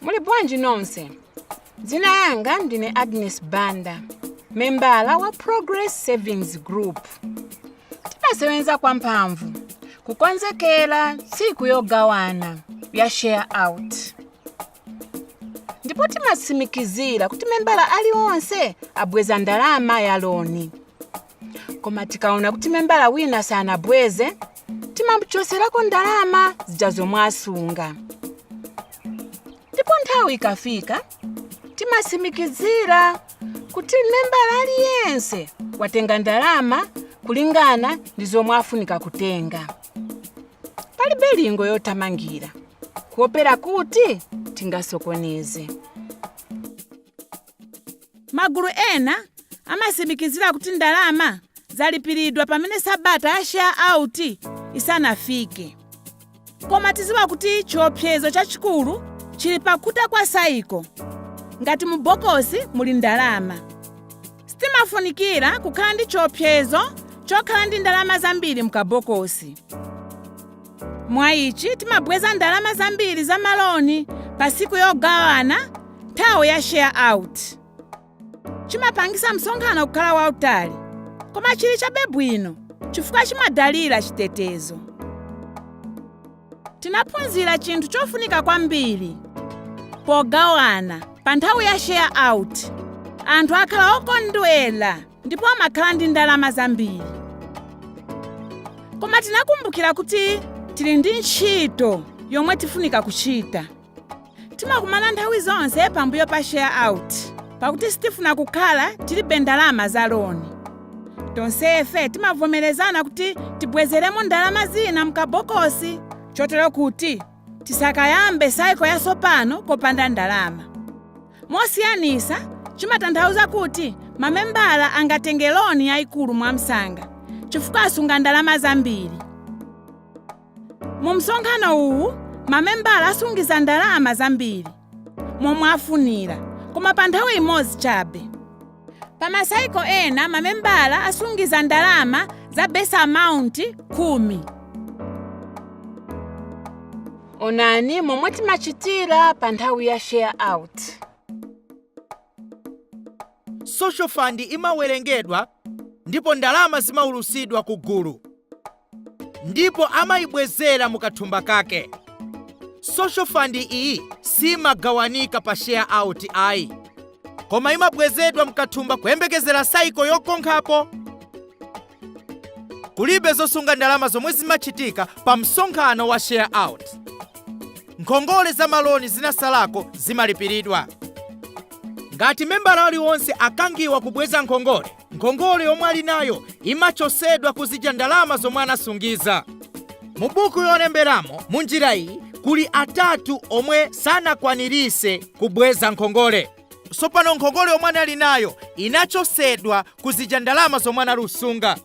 muli bwanji nonse dzina yanga ndine agnes banda membala wa progress savings group timasewenza kwa mphamvu kukonzekera tsiku yogawana ya share out ndipo timatsimikizira kuti membala alionse abweza ndalama ya loni koma tikaona kuti membala wina sanabweze timamuchoserako ndalama zija zomwe asunga ndipo nthawi ikafika timasimikizira kuti membala aliyense watenga ndalama kulingana ndi zomwe afunika kutenga palibe lingo yothamangira kuopera kuti tingasokoneze Magulu ena amatsimikizira kuti ndalama zalipiridwa pamene sabata ya share out isanafike. Koma tiziwa kuti chiopsezo chachikulu chili pakutha kwa saiko ngati mu bokosi muli ndalama. Sitimafunikira kukhala ndi chiopsezo chokhala ndi ndalama zambiri mukabokosi. Mwa ici, timabweza ndalama zambili za maloni pa siku yogawana nthawi ya share-out. Cimapangitsa msonkhano kukhala wautali, koma cili cabe bwino cifukwa cimadalila citetezo. Tinaphunzila cinthu cofunika kwambili pogawana pa nthawi ya share-out, anthu akhala okondwela ndipo amakhala ndi ndalama zambiri koma tinakumbukira kuti tili ndi ntchito yomwe tifunika kuchita timakumana nthawi zonse pambuyo pa share out pakuti sitifuna kukhala tilibe ndalama za loni tonsefe timavomerezana kuti tibwezeremo ndalama zina mukabokosi chotero kuti tisakayambe saiko yatsopano popanda ndalama mosiyanisa chimatanthauza kuti mamembala angatenge loni yayikulu mwamsanga chifukwa asunga ndalama zambiri mu msonkhano uwu mamembala asungiza ndalama zambiri momwe afunira koma pa nthawi imodzi chabe pa masaiko ena mamembala asungiza ndalama za base amount khumi onani momwe timachitira pa nthawi ya share out social fund imawerengedwa ndipo ndalama zimaulusidwa ku gulu ndipo amayibwezera mu kathumba kake social fund iyi siimagawanika pa share out ayi koma imabwezedwa mukathumba kuyembekezera saiko yokonkhapo kulibe zosunga ndalama zomwe zimachitika pa msonkhano wa share out nkhongole za maloni zinasalako zimalipiridwa ngati membala aliwonse akangiwa kubweza nkhongole nkhongole yomwe ali nayo imachosedwa kuzija ndalama zomwe anasungiza mu buku yolemberamo mu njira iyi kuli atatu omwe sanakwanirise kubweza nkhongole sopano nkhongole yomwe anali nayo inachosedwa kuzija ndalama zomwe anali kusunga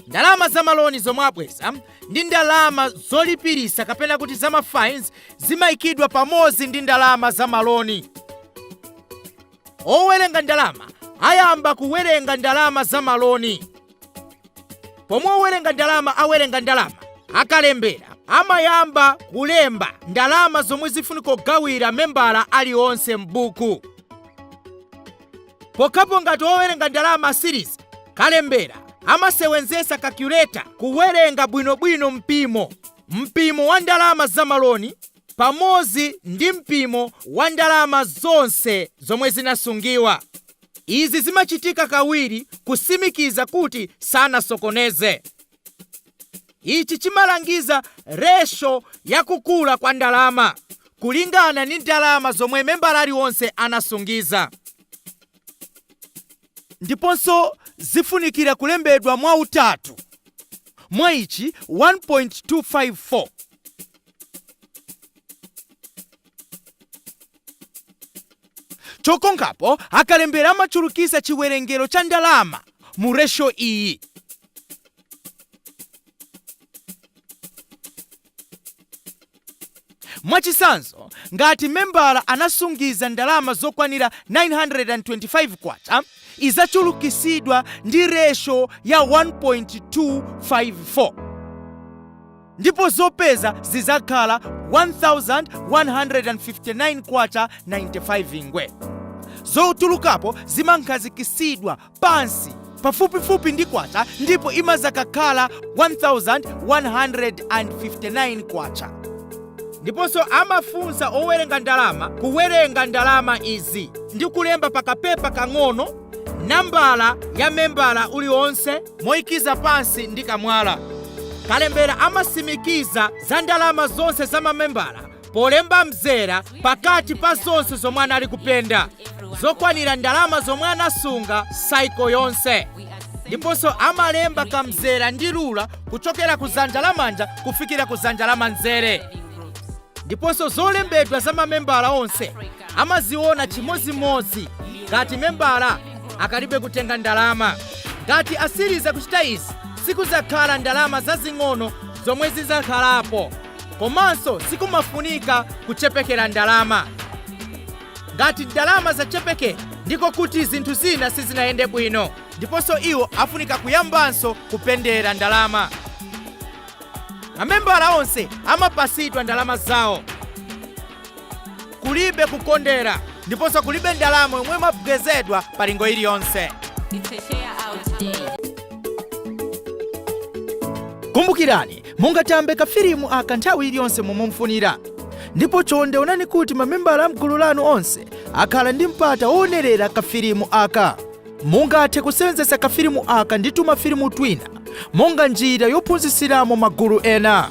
ndalama za maloni zomwe abweza ndi ndalama zolipirisa kapena kuti za mafines zimayikidwa pamodzi ndi ndalama za maloni owerenga ndalama ayamba kuwerenga ndalama za maloni pomwe owerenga ndalama awerenga ndalama akalembera amayamba kulemba ndalama zomwe zifunika kugawira membala alionse m'buku pokhapo ngati owerenga ndalama asiriza kalembera amasewenzesa kakuleta kuwerenga bwinobwino mpimo mpimo wa ndalama za maloni pamodzi ndi mpimo wa ndalama zonse zomwe zinasungiwa. Izi zimachitika kawiri kusimikiza kuti sanasokoneze. Ichi chimalangiza ratio ya kukula kwa ndalama kulingana ndi ndalama zomwe membala alionse anasungiza. Ndiponso zifunikira kulembedwa mwa utatu. Mwaichi, 1.254. Chokonkhapo akalembera amachulukisa chiwerengero cha ndalama mu ratio iyi. Mwachitsanzo, ngati membala anasungiza ndalama zokwanira K925, izachulukisidwa ndi ratio ya 1.254. ndipo zopeza zizakhala 1159 kwacha 95 ngwe zotulukapo zimakhazikisidwa pansi pafupifupi ndi kwacha ndipo imazakakhala 1159 kwacha ndiponso amafunsa owerenga ndalama kuwerenga ndalama izi ndi kulemba pakapepa kang'ono nambala ya membala aliwonse noikiza pansi ndi kamwala kalembera amasimikiza za ndalama zonse za mamembala polemba mzera pakati pa zonse zomwe anali kupenda zokwanira ndalama zomwe anasunga saiko yonse ndiponso amalemba kamzera ndi lula kuchokera ku zanja lamanja kufikira ku zanja lamanzere ndiponso zolembedwa za mamembala onse amaziona chimodzimodzi ngati membala akalibe kutenga ndalama ngati asiriza kuchita izi sikuzakhala ndalama zazing'ono zomwe zizakhalapo komanso sikumafunika kuchepekera ndalama ngati ndalama zachepekera ndiko kuti zinthu zina sizinayende bwino ndiponso iwo afunika kuyambanso kupendera ndalama mamembala onse amapasidwa ndalama zawo kulibe kukondera ndiponso kulibe ndalama yomwe imabwezedwa pa lingo iliyonse kumbukirani mungatambe kafilimu aka nthawi iliyonse momwe mufunira ndipo chonde onani kuti mamembala a m'gulu lanu onse akhala ndi mpata woonerera kafilimu aka Mungathe kusewenzetsa kafilimu aka ndi tumafilimu twina monga njira yophunzitsiramo magulu ena.